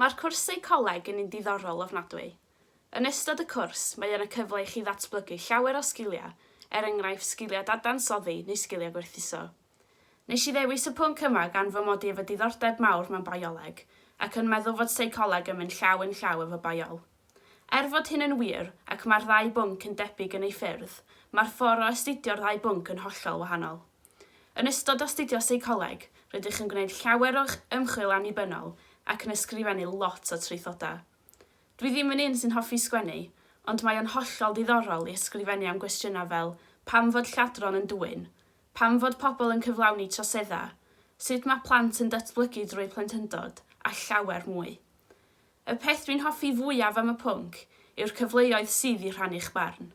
Mae'r cwrsau coleg yn un diddorol ofnadwy. Yn ystod y cwrs, mae yna cyfle i chi ddatblygu llawer o sgiliau, er enghraifft sgiliau dadansoddi neu sgiliau gwerthuso. Nes i ddewis y pwnc yma gan fy mod i efo diddordeb mawr mewn bioleg, ac yn meddwl fod seicoleg yn mynd llaw yn llaw efo biol. Er fod hyn yn wir, ac mae'r ddau bwnc yn debyg yn eu ffyrdd, mae'r ffordd o astudio'r ddau bwnc yn hollol wahanol. Yn ystod astudio seicoleg, rydych yn gwneud llawer o ymchwil annibynnol ac yn ysgrifennu lot o traethodau. Dwi ddim yn un sy'n hoffi sgwennu, ond mae o'n hollol ddiddorol i ysgrifennu am gwestiynau fel pam fod lladron yn dwyn? Pam fod pobl yn cyflawni troseddau? Sut mae plant yn datblygu drwy plentyndod? a llawer mwy. Y peth dwi'n hoffi fwyaf am y pwnc yw'r cyfleoedd sydd i rhannu'ch barn.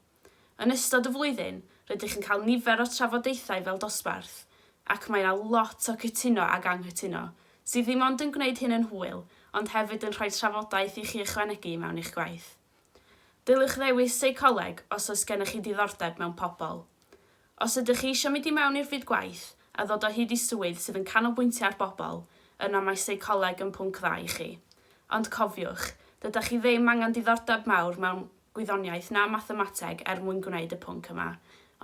Yn ystod y flwyddyn, rydych yn cael nifer o trafodaethau fel dosbarth, ac mae yna lot o cytuno ac anghytuno, sydd ddim ond yn gwneud hyn yn hwyl, ond hefyd yn rhoi trafodaeth i chi ychwanegu mewn i'ch gwaith. Dylech ddewis seicoleg os oes gennych chi ddiddordeb mewn pobl. Os ydych chi eisiau mynd i mewn i'r byd gwaith a ddod o hyd i swydd sydd yn canolbwyntio ar bobl, yna mae seicoleg yn pwnc dda i chi. Ond cofiwch, dydych chi ddim angen diddordeb mawr mewn gwyddoniaeth na mathemateg er mwyn gwneud y pwnc yma,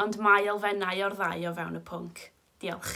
ond mae elfennau o'r ddau o fewn y pwnc. Diolch.